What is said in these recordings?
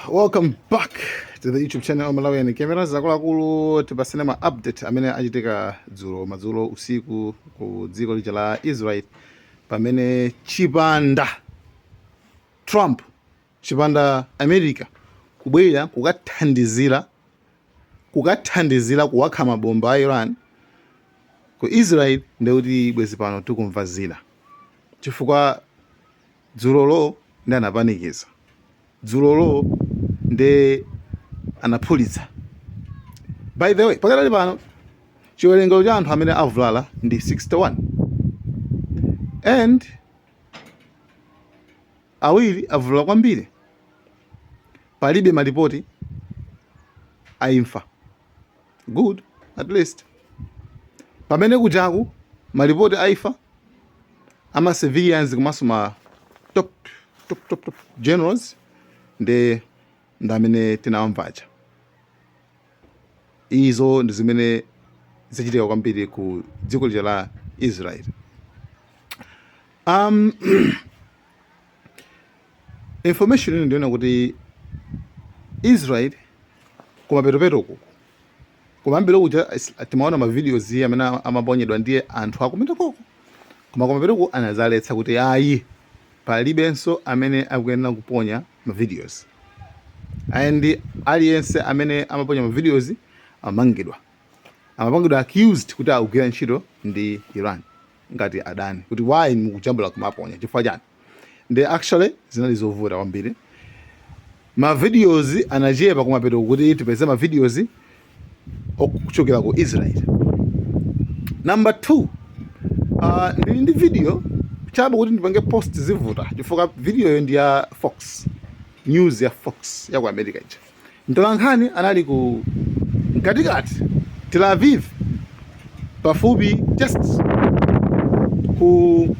welcome back to the youtube channel of malawian camera zakuluakulu tipatsane ma update amene achitika dzulo madzulo usiku ku dziko lija la israel pamene chipanda trump chipanda america kubwera kukathandizira kuwakha mabomba a iran ku israel ndekuti bwezi pano tikumva zina chifukwa Dzulolo nde anapanikiza. Dzulolo nde anaphulitsa. By the way, pakadali pano chiwerengero cha anthu amene avulala ndi 61 and awiri avulala kwambiri. Palibe malipoti a imfa. good at least pamene kujaku malipoti a imfa ama civilians komanso ma top, top, top, top generals ndi amene tinawamva aja izo ndi zimene zachitika kwambiri ku dziko lija la israel um, Information ina ndinaona kuti Israel kumapetopeto uku kumayambiriro kuja timaona ma videos amene amaponyedwa ndiye anthu akumwetako koma kumapetoku anazaletsa kuti ayi palibenso amene akuyenera kuponya ma videos and aliyense amene amaponya ma videos amamangidwa amapangidwa accused kuti akugwira ntchito ndi Iran ngati adani kuti why mukujambula kumaponya chifukwa chiyani ndi actually zinali zovuta kwambiri ma videos anachepa kumapetoku kuti tipeze ma videos okuchokera ku Israel number 2 uh, ndili ndi video chabe kuti ndipange post zivuta chifukwa videoyo ndi ya Fox news ya Fox ya ku America ija Mtolankhani anali ku mkatikati Tel Aviv pafupi just ku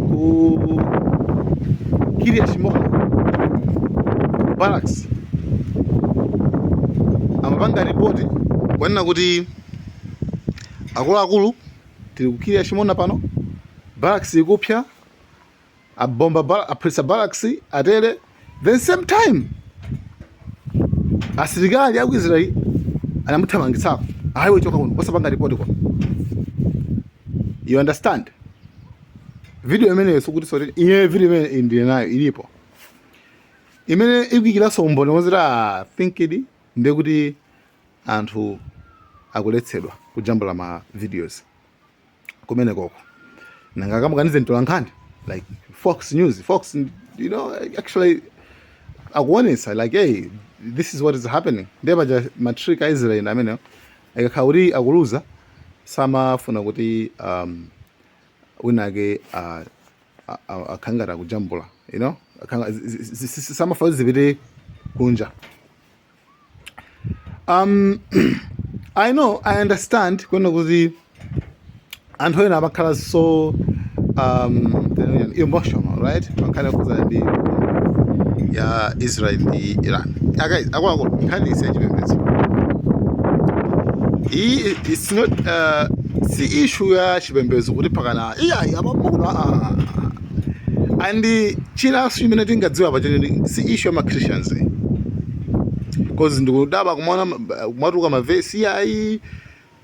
ku Kiryat Shmona barracks amapanga ripoti kunena kuti akuluakulu tili ku Kiryat Shmona pano barracks ikupsya abomba bala, aphulitsa barracks atere then same time asilikali aku Israel anamuthamangitsako ayi iwe choka kuno osapanga report kwa you understand video imeneyo sikuti sorry iye video imene ndili nayo ilipo imene ikuikira umboni woti ah, I think-di ndiye kuti anthu akuletsedwa kujambula ma videos kumeneko ko nanga akamukanize mtolankhani like fox news fox you know actually akuonesa like hey this is what is happening ndiye paja matrick a israel amenewo akakhala kuti akuluza samafuna kuti um, winake uh, akhangata kujambula you know samafuna kuti zipite kunja um, i know i understand kunena kuti anthu ena amakhala so um, emotional right pankhani yokhuzana ndi ya israel ndi iran guys akwathu nkhani si yachipembedzo iyi it's not uh, si issue ya chipembedzo kuti pakana iyayi apamukuno and chinaso chimene tingadziwa pa choncho si issue ya ma christians cause ndikudaba kumaona kumatuluka mavesi ayi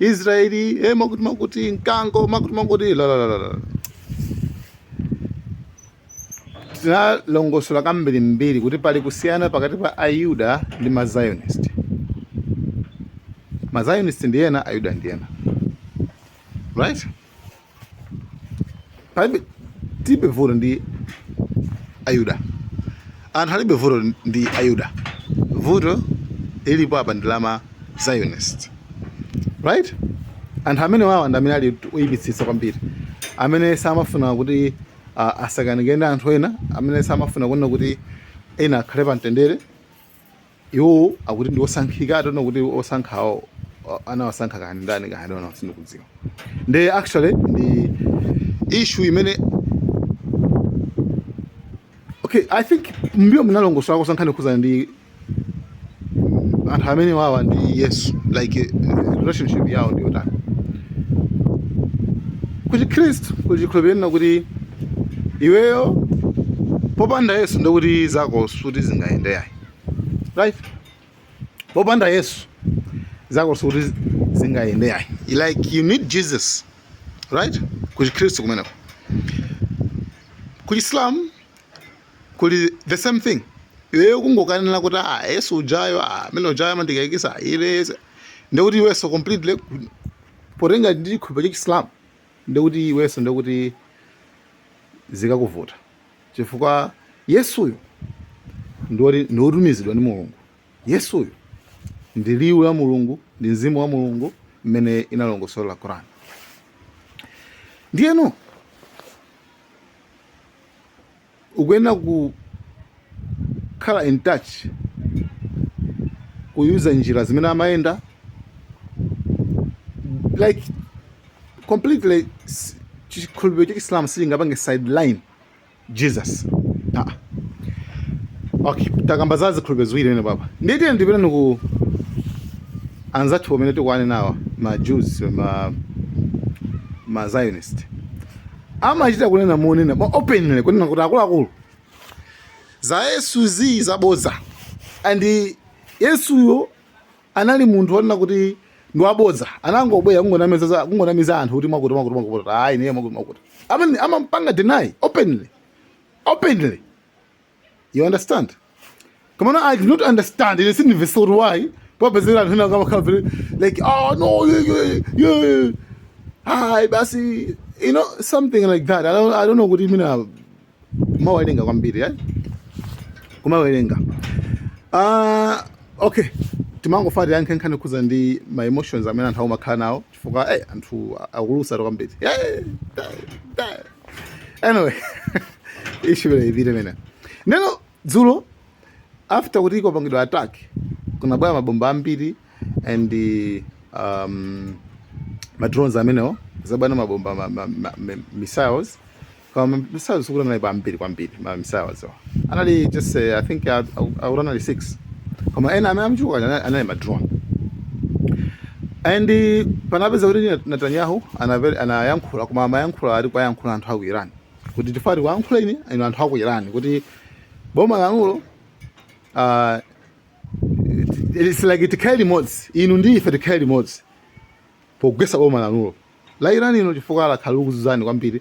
israeli eh, makuti makuti mkango makuti makuti la la la la tinalongosola kambirimbiri kuti pali kusiyana pakati pa ayuda ndi mazionist mazionist ndi ena ayuda ndi ena right palibe tilibe vuto ndi ayuda anthu alibe vuto ndi ayuda vuto lilipo apa ndi lama zionist right anthu amenewawa ndi amene ali oyipitsitsa kwambiri amene samafuna kuti uh, asakanike ndi anthu ena amene samafuna kunena kuti ena akhale pa mtendere iwo akuti ndi osankhika tinene kuti osankhawo anawasankha kani ndani kani ona sindikudziwa nde actually ndi issue imene okay i think mbiyo munalongosola ku nkhani yokhuzana ndi anthu amenewawa ndi yesu like eh, relationship yawo ndi yotani ku chikhristu timakhulupirira kuti iweyo popanda yesu ndikuti zako sikuti zingayende ayi right popanda yesu zako sikuti zingayende ayi like you need jesus right ku chikhristu kumeneko ku chisilamu kuli the same thing iweyo kungokanena kuti ah yesu ujayo ah amene ujayo amandikayikisa ile ndekuti iweso completely potengera ndi chikhulupiriro cha chisilamu ndekuti iweso ndekuti zikakuvuta chifukwa Yesuyo ndi woti- ndi wotumizidwa ndi mulungu Yesuyo ndi liwu la mulungu ndi mzimu wa mulungu mmene inalongosola Quran ndiyeno ukuyenera kukhala in touch kuyusa njira zimene amayenda like completely s- chikhulupiriro cha Islam sichingapange sideline jesus ah. okay takamba za zikhulupiriro ziwiri pamene papa ndiye tiyeni tipitenso ku anzathu pamene tikuane nawa ma jews ma, ma zionist amachita kunena monena openly kunena kuti akuluakulu za yesu zi zabodza and yesuyo anali munthu onena kuti ndi wabodza anangobwera kungonamiza za- kungonamiza anthu kuti mwakuti mwakuti mwakuti ah ine mwakuti mwakuti amampanga deny openly openly you understand komano I do not understand. It is in the story why. Papa said, I'm not going to cover it. Like, oh, no, you, you, you. Hi, Bassi. You know, something like that. I don't, I don't know what you mean. uh, kumawerenga kwambiri eh? kumawerenga uh, okay timangofuna tiyankhe nkhani yokhudzana ndi ma emotions amene anthu akumakhala nawo chifukwa hey, eh, anthu akulusatu kwambiri eh, anyway ishibile ipite mene ndiyeno dzulo after kuti ikopangidwa attack kunabwera mabomba ambiri and um, madrones amenewo kuzabweranso mabomba ma, ma, ma, missiles koma mamisayo sikuti anali pambiri kwambiri mamisayo amenewa anali just eh, i think a- a- akuti anali 6 koma ena amene anachuluka anali anali madrone and eh, panapeza kuti Net- netanyahu anaye- anayankhula koma amayankhula ali kuwayankhula anthu aku iran kuti chifukwa ali kuyankhula inu inu anthu aku iran kuti boma lanulo ah, it's like tikhale limodzi inu ndi ife tikhale limodzi pogwetsa boma lanulo la Iran ilo chifukwa lakhala likukuzunzani kwambiri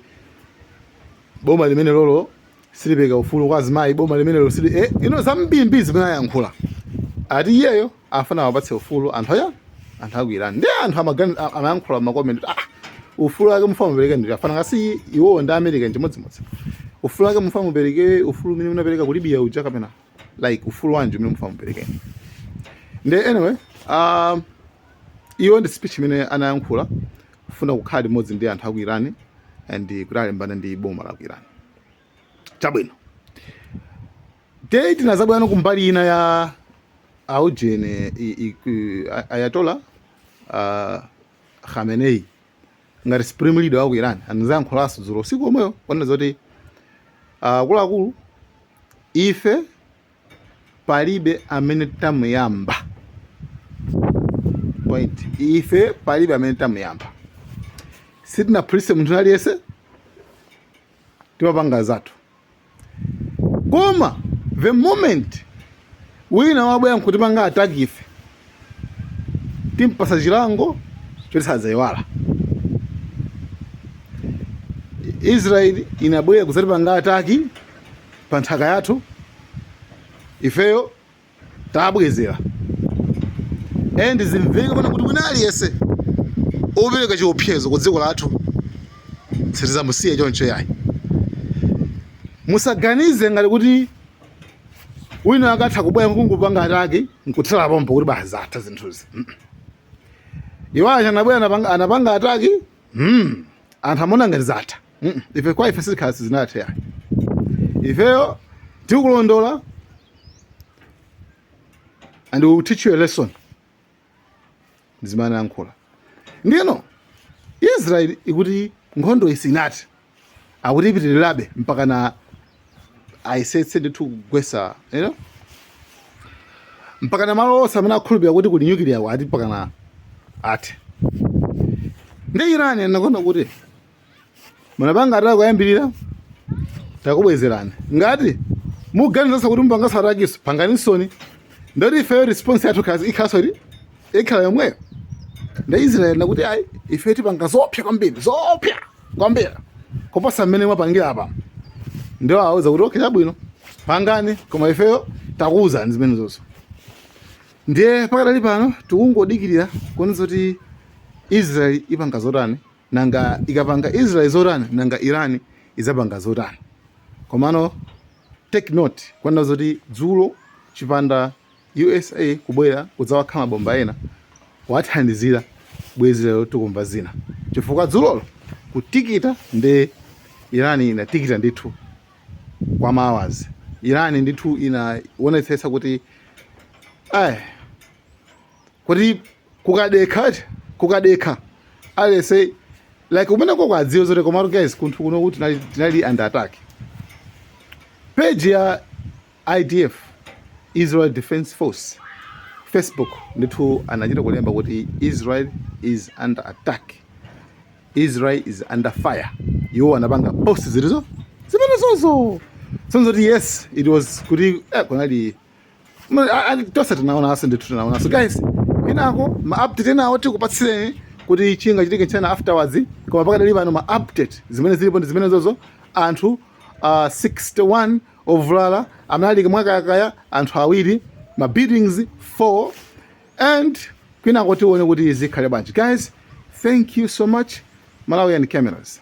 boma limene lolo silipereka ufulu kwa azimayi boma limene lolo sili eh, ino zambiri zimene ayankhula ati iyeyo afuna awapatse ufulu anthu aya anthu aku Iran ndi anthu amagani amayankhula makomenti ah ufulu wake mufuna mupereke nde afanana ngati iwowo ndi america nchimodzimodzi ufulu wake mufuna mupereke ufulu umene munapereka ku libya uja kapena like ufulu wanji umene mufuna mupereke ndi anyway um, Iyo ndi speech imene anayankhula kufuna kukhala limodzi ndi anthu a ku Iran and kuti alimbane ndi boma la ku Iran. Chabwino. Nde tinazabweranso kumbali ina ya aujene Ayatollah uh, Khamenei ngati supreme leader wa ku Iran anazayankhulaso dzulo usiku omweyo onena zoti akuluakulu uh, ife palibe amene tamuyamba point ife palibe amene tamuyamba sitinaphulise munthu aliyense timapanga zathu koma the moment wina wabwera nkutipanga attack ife timpasa chilango choti sadzayiwala israeli inabwera kudzatipanga ataki pa nthaka yathu ifeyo tabwezera and zimveka pano kuti wina aliyense opereka chiopsezo ku dziko lathu sitizamusiya choncho yayi musaganize ngati kuti wina akatha kubwera nkungopanga ataki nkuthera pompo kuti basi zatha zinthuzi iwo aja anabwera anapanga, anapanga ataki mm. anthu amona ngati zatha mm. ife kwa ife sizikhala sizinathe yayi ifeyo tikulondola and we will teach you a lesson ndi zimene anayankhula ndiyeno israeli ikuti nkhondoyi sinathe akuti ipitirirabe mpakana ayesetse ndithu kugwesa you know? mpakana malo onse amene akhulupirira kuti kuli nyukiliya ati mpakana athe ndi irani anakonda kuti munapanga ataki kuyambirira takubwezerani ngati muganizanso kuti mupanganso atakinso panganisoni ndoti ifeyo response yathu kazi ikhaso ri ikhala yomweyo nde israeli akuti ayi ife tipanga zoopsya kwambiri zoopsya kwambiri koposa mmene mwapangira apa nde awawuza kuti okay chabwino pangani koma ifeyo takuwuzani zimenezonso ndiye pakadali pano tikungodikirira kuona zoti israeli ipanga zotani Nanga ikapanga Israel zotani nanga Iran idzapanga zotani? Komano take note kunena zoti dzulo chipanda usa kubwera kudzawakha mabomba ena kuwathandizira bwezi lero tikumva zina chifukwa dzulolo kutikita nde Iran inatikita ndithu kwa ma hours. Iran ndithu inaonetsetsa kuti eh, kuti kukadekha ati kukadekha aliyense ali kumenekoko adziwe zoti komatu guys kunthu kuno kuti tinali, tinali under attack page ya idf israel defense force facebook ndithu anachita kulemba kuti israel is under attack israel is under fire iwo anapanga post zilizo zimenezozo so nzoti yes it was kuti eh, kunali tonse tinaonanso ndithu tinaonanso guys kwinako ma update enawo tikupatsireni kuti chingachitike nchani afterwards koma pakadali pano ma update zimene zilipo ndi zimenezozo anthu uh, ah, 61 ovulala amene ali mwakayakaya anthu awiri ma buildings 4 and kwinako tione kuti zikhale bwanji guys thank you so much malawian cameras